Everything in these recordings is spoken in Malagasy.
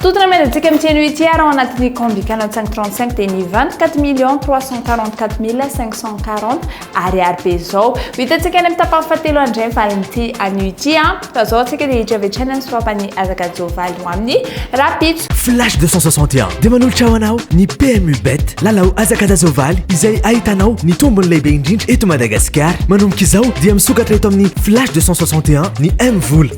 Tout ny mail antsika amin'ity anio ity ary ao anatin'ny Combi 4535 dia ny 24 millions 344 mille 540 ariary be izao. Ho hitantsika any amin'ny tapany fahatelo handray ny valin'ity anio ity an. Fa izao antsika dia hiditra avy hatrany amin'ny sorapan'i Azakajao Valy ho amin'ny rahampitso. Flash 261 dia manolotra ho anao ny PMU Bet Lalao Azakajazao Valy izay ahitanao ny tombony lehibe indrindra eto Madagasikara. Manomboka izao dia misokatra eto amin'ny Flash 261 ny M-vola.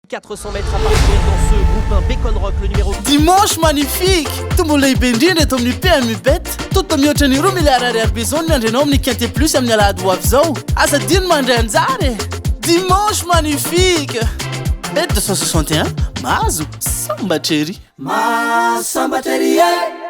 Dimanche magnifique! Tombola lehibe indrindra eto amin'ny PMU Bet. Tonta mihoatra ny roa miliara ariary beizao ny miandry anao amin'ny Quintet Plus amin'ny alahady ho avy izao. Aza adino ny mandray anjara e! Dimanche magnifique! Bet 261, mahazo sambatra ery! Mahasambatra ery e!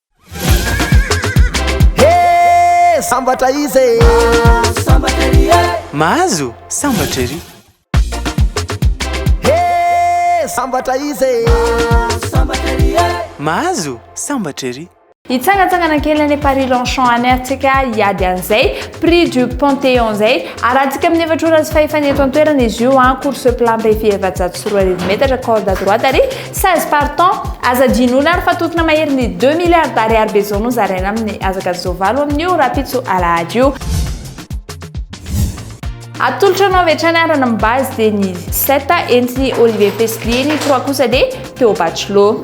Hee sambatra izy e! Mahazo sambatra ery e! Mahazo sambatra ery! Hee sambatra izy e! Mahazo sambatra ery e! Mahazo sambatra ery! Hitsangantsangana kely any Paris Longchamp any ary tsika hiady an'izay prix du Panthéon izay. Arahantsika amin'ny efatra ora sy fahefany eto an-toerana izy io an, course plat am-behivy efajato sy roa arivo metatra, corde à droite ary 16 partants, aza adinona ary fa tokona mahery ny deux milliards d'ariary be zao no zaraina aminy azaka zo valo aminio rapitso alahady io. Atolotra anao avy hatrany ary ny base dia ny sept entin'i Olivier Festlier, ny trois kosa dia Théo Bachelot.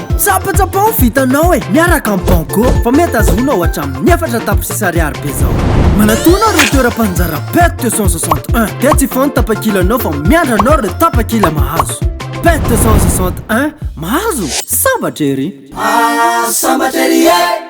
Tsapatsapao vitanao e, miaraka amin'ny banco fa mety azonao hatramin'ny efatra tapitrisa ariary be zao. Manatona ireo toeram-panjara PET 261 dia tsy foana tapakilanao fa miandry anao ireo tapakila mahazo. PET 261, mahazo? Sambatra ery! Ah, sambatra ery e!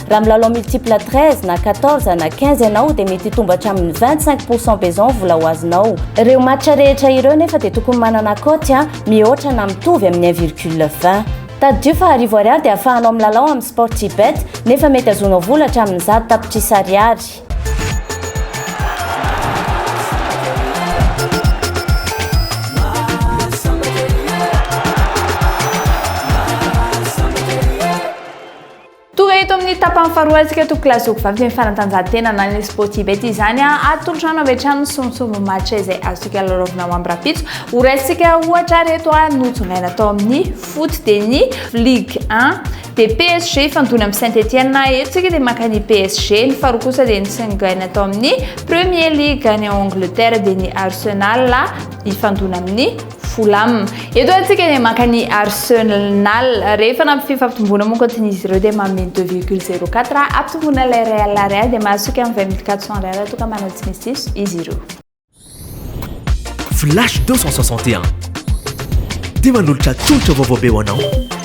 Raha milalao multiple 13 na 14 na 15 ianao dia mety hitombo hatramin'ny 25 pourcent be izao ny vola ho azonao. Ireo match rehetra ireo nefa dia tokony manana cote mihoatra na mitovy amin'ny 1 virgule 20. Tadidio fa arivo ariary dia ahafahanao milalao amin'ny Sportybet nefa mety azonao vola hatramin'ny zato tapitrisa ariary. Tonga eto amin'ny tapany faharoa antsika eto Kilazoko vavy amin'ny fanatanjahantena na ny Sportibet izany a atolotrano avy hatrany ny sombintsombin'ny match izay azontsika lalaovina ho ambrapitso ho raisintsika ohatra ary eto a notsongaina tao amin'ny foot dia ny Ligue 1 dia PSG ifandona amin'ny Saint Etienne a eto tsika dia maka ny PSG ny faharoa kosa dia nitsingaina tao amin'ny Premier League any Angleterre dia ny Arsenal ifandona amin'ny Fulham. Eto hoe antsika dia maka ny Arsenal. Rehefa nampy fifampitomboana moa kontsiny izy ireo dia manome 2,04 ampitomboana ilay Real Real dia mahasoko amin'ny 20 minutes 400 Real raha toa ka manao tsy misy diso izy ireo. Flash 261. Dia manolotra tolotra vaovao be ho anao.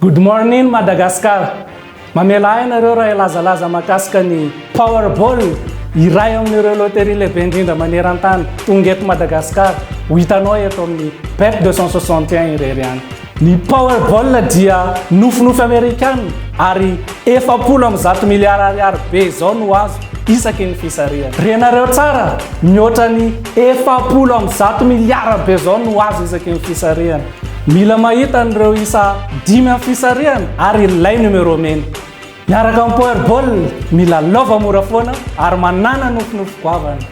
Good morning Madagascar! Mamela ahy ianareo raha hilazalaza mahakasika ny Powerball, iray amin'ireo loterie lehibe indrindra maneran-tany, tonga eto Madagascar, ho hitanao eto amin'ny Bet 261 irery ihany. Ny Powerball dia nofinofy Amerikana ary efapolo amby zato miliara ariary be izao no azo isaky ny fisarihana. Renareo tsara, mihoatra ny efapolo amby zato miliara be izao no azo isaky ny fisarihana. Mila mahita an'ireo isa dimy amin'ny fisarihana ary ilay numéro mena. Miaraka amin'ny Powerball, mila lova mora foana ary manàna nofinofy goavana.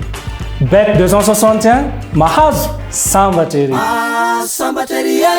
Bet 261, mahazo, sambatra ery! Ah, sambatra ery e!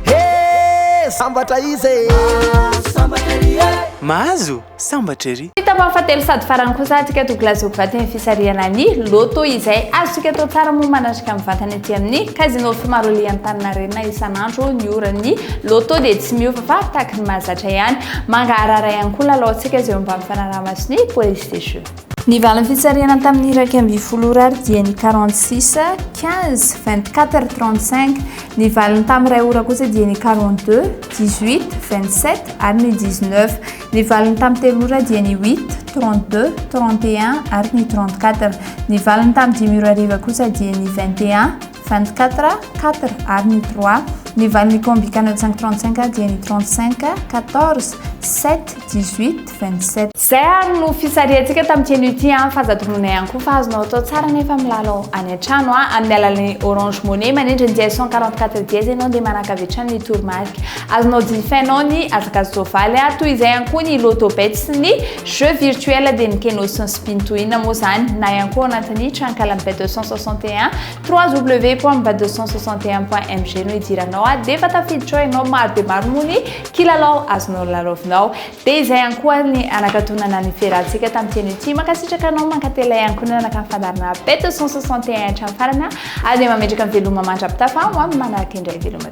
He! Sambatra iza e! Ah, sambatra ery e! Mahazo? Sambatra ery! Fitaovana fahatelo sady farany kosa antsika Douglas Ogvaty amin'ny fisarihana ny Lotto izay azontsika atao tsara moa manatrika mivantana ety amin'ny Casino Fimaroli Antaninarenina isan'andro ny ora ny Lotto dia tsy miova fa tahaka ny mahazatra ihany. Mangaharahara ihany koa ny lalaontsika izay omban'ny fanaraha-maso ny Police des Jeux. Ny valin'ny fitsarihana tamin'ny iraika ambin'ny folo ora ary dia ny quarante six, quinze, vingt quatre, trente cinq. Ny valiny tamin'ny iray ora kosa dia ny quarante deux, dix huit, vingt sept ary ny dix neuf. Ny valiny tamin'ny telo ora dia ny huit, trente deux, trente et un ary ny trente quatre. Ny valiny tamin'ny dimy ora hariva kosa dia ny vingt et un, 24, quatre, ary ny trois. Ny valin'ny combikana tsy ampy trente cinq dia ny trente cinq, quatorze, sept, dix huit, vingt sept. Izay ary no fisarihantsika tamin'ity anio ity an! Fa aza tononina ihany koa fa azonao atao tsara nefa milalao any an-trano an! Amin'ny alalan'ny Orange Money, manendry ny dièse cent quarante quatre dièse ianao dia manakavy hatrany ny toromarika. Azonao jifainao ny hazakazan-tsoavaly an! Toy izay ihany koa ny Lotto Bet sy ny. Jeux virtuels dia ny keno sy ny spin to win moa izany na ihany koa ao anatin'ny trankalan'ny bet 261 www.bet 261.mg no idiranao a dia efa tafiditra ao ianao maro dia maro moa ny kilalao azonao lalaovinao dia izay ihany koa ny anakatonana ny fiarahantsika tamin'ny keno ity mankasitraka anao mankatelina ihany koa nanaraka ny fandaharana bet 261 hatramin'ny farana ary dia mametraka ny veloma mandra-pitafa ho amin'ny manaraka indray veloma